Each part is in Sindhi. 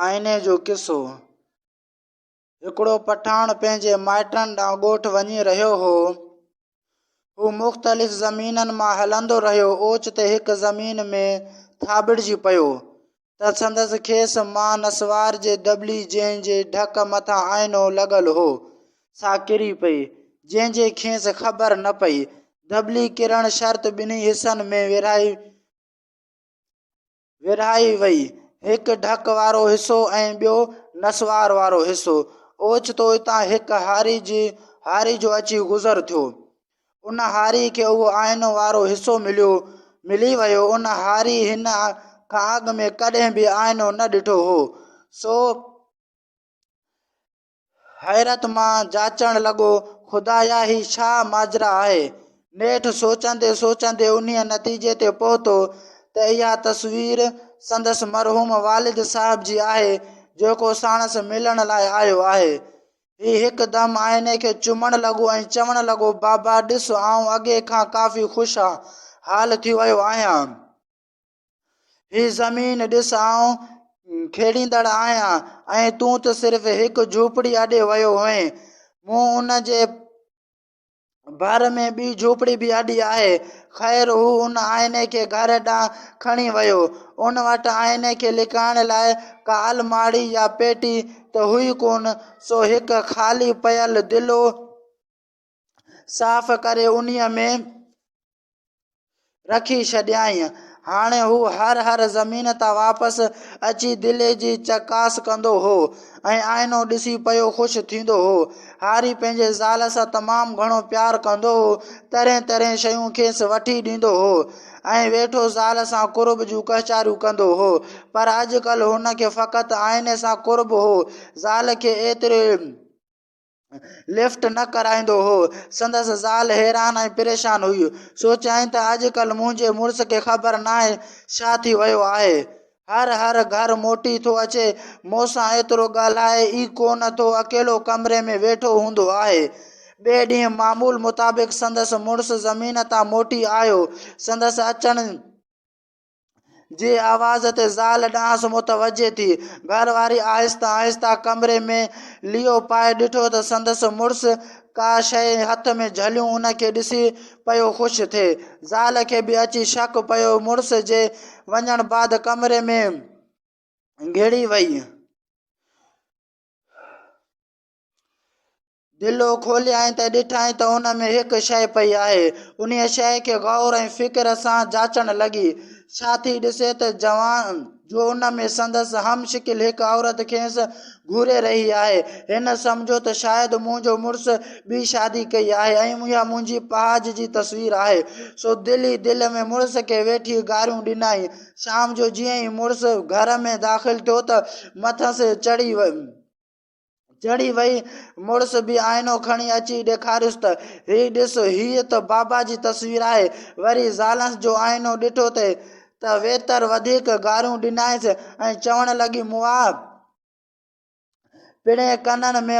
آئيني جو قصو، هڪڙو پٺاڻ پنهنجي مائٽن ڏانهن ڳوٺ وڃي رهيو هو. هو مختلف زمينن مان هلندو رهيو، اوچتي هڪ زمين ۾ ٿاٻڙجي پيو ته سندس کيس مان نسوار جي دٻلي جنهن جي ڍڪ مٿان آئينو لڳل هو، سا ڪري پئي، جنهن جي کيس خبر نه پئي. دٻلي ڪرڻ شرط ٻنهي حصن ۾ ورهائي ورهائي وئي. هڪ ڍڪ وارو حصو ۽ ٻيو نسوار وارو حصو. اوچتو اتان هڪ هاري جي هاري جو اچي گذر ٿيو. ان هاري کي اهو آئينو وارو حصو مليو ملي ويو. ان هاري هن کان اڳ ۾ ڪڏهن به آئينو نه ڏٺو هو. سو حيرت مان جاچڻ لڳو، خدايا هي ڇا ماجرا آهي؟ نيٺ سوچيندي سوچيندي انهيء نتيجي تي پهتو ته اها تصوير سندس مرحوم والد صاحب جي آهي، جيڪو ساڻس ملڻ لاء آيو آهي. هي هڪدم آئيني کي چمڻ لڳو ۽ چوڻ لڳو، بابا ڏس آئون اڳي کان ڪافي خوش حال ٿي ويو آهيان. هي زمين ڏس آئون کيڙيندڙ آهيان ۽ تون ته صرف هڪ جهوپڙي آڏي ويو هئين. مون ان جي ڀر ۾ ٻي جهوپڙي به آڏي آهي. خير هو ان آئيني کي گهر ڏانهن کڻي ويو. ان وٽ آئيني کي لڪائڻ لاء ڪا الماڙي يا پيٽي ته هئي ڪونه سو هڪ خالي پيل دلو صاف ڪري انهيء ۾ رکي ڇڏيائين. هاڻي هو هر هر زمين تان واپس اچي دلي جي چڪاس ڪندو هو ۽ آئينو ڏسي پيو خوش ٿيندو هو. هاري پنهنجي زال سان تمام گهڻو پيار ڪندو هو. ترين ترين شيون کيس وٺي ڏيندو هو ۽ ويٺو زال سان قرب جون ڪهچاريون ڪندو هو. پر اڄڪلهه هن کي فقط آئيني سان قرب هو. زال کي ايتري لفٽ نه ڪرائيندو هو. سندس زال حيران ۽ پريشان هئي. سوچيائين ته اڄڪلهه منهنجي مڙس کي خبر ناهي ڇا ٿي ويو آهي. هر هر گهر موٽي ٿو اچي، مون سان ايترو ڳالهائي ئي ڪونه ٿو اڪيلو ڪمري ۾ ويٺو هوندو آهي. ٻئي ڏينهن معمول مطابق سندس مڙس زمين تان موٽي آيو. سندس اچڻ. جي آواز تي زال ڏانهس متوجهه ٿي. گهر واري آهستي آهستي ڪمري ۾ ليئو پائي ڏٺو ته سندس مڙس ڪا شيء هٿ ۾ جهليون ان کي ڏسي پيو خوش ٿئي. زال کي به اچي شڪ پيو مڙس جي وڃڻ بعد ڪمري ۾ گهڙي وئي. دلو کوليائين ته ڏٺائين ته ان ۾ هڪ شيء پئي آهي. انهيء شيء کي غور ۽ فڪر سان جاچڻ لڳي. ڇا ٿي ڏسي ته جوان، جو ان ۾ سندس هم شڪل هڪ عورت کيس گهوري رهي آهي. هن سمجهيو ته شايد منهنجو مڙس ٻي شادي ڪئي آهي ۽ اها منهنجي پهاج جي تصوير آهي. سو دل ئي دل ۾ مڙس کي ويٺي گاريون ڏنائين. شام جو جيئن ئي مڙس گهر ۾ داخل ٿيو ته مٿس چڙهي ويو. چڙهي وئي، مڙس به آئينو کڻي اچي ڏيکاريس ته، هي ڏس، هيء ته بابا جي تصوير آهي. وري زالانس جو آئينو ڏٺو ته ته ويتر وڌيڪ گاريون ڏنائينس ۽ چوڻ لڳي، مئا! پڻهين ڪنن ۾.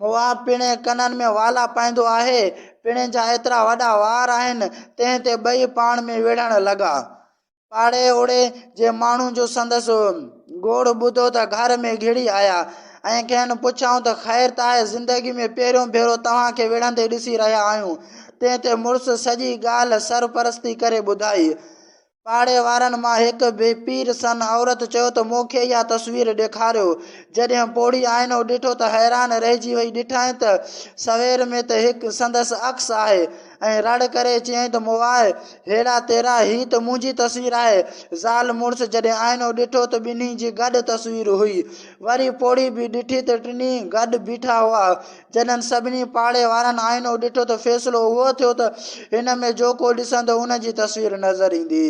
مواب پڻ ڪنن ۾ والا پائيندو آهي، پڻ جا ايترا وڏا وار آهن. تنهن تي ٻئي پاڻ ۾ وڙهڻ لڳا. پاڙي اوڙي جي ماڻهو جو سندس گوڙ ٻڌو ته گهر ۾ گهڙي آيا ۽ کين پڇيائون ته خير ته آهي؟ زندگي ۾ پهريون ڀيرو توهان کي وڙهندي ڏسي رهيا آهيون. تنهن تي مڙس سڄي ڳالهه سرپرستي ڪري ٻڌائي. پاڙي وارن مان هڪ بي پير سن عورت چيو ته مون کي اها تصوير ڏيکاريو. جڏهن پوڙهي آئينو ڏٺو ته حيران رهجي وئي. ڏٺائين ته سوير ۾ ته هڪ سندس عڪس آهي ۽ رڙ ڪري چيائين ته مواء هيڙا تيرا هي ته منهنجي تصوير آهي. زال مڙس جڏهن آئينو ڏٺو ته ٻنهي جي گڏ تصوير هئي. وري پوڙهي به ڏٺي ته ٽنهي گڏ بيٺا هئا. جڏھن سڀني پاڙي وارن آئينو ڏٺو ته فيصلو اھو ٿيو ته ھن ۾ جو ڪو ڏسندو ان جي تصوير نظر ايندي.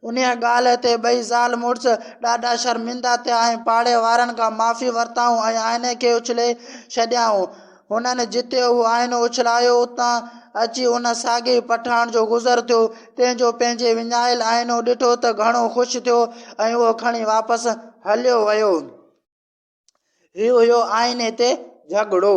انھيء ڳالھھ تي ٻئي زال مڙس ڏاڍا شرمندا ٿيا ۽ پاڙي وارن کان معافي ورتائون ۽ آئيني کي اڇلي ڇڏيائون. ھنن جتي اھو آئينو اڇلايو اتان اچي ان ساڳئي پٺاڻ جو گذر ٿيو تنھن جو پنھنجي وڃايل آئينو ڏٺو ته گھڻو خوش ٿيو ۽ اھو کڻي واپس ھليو ويو. هي هيو آهن هتي جهڳڙو.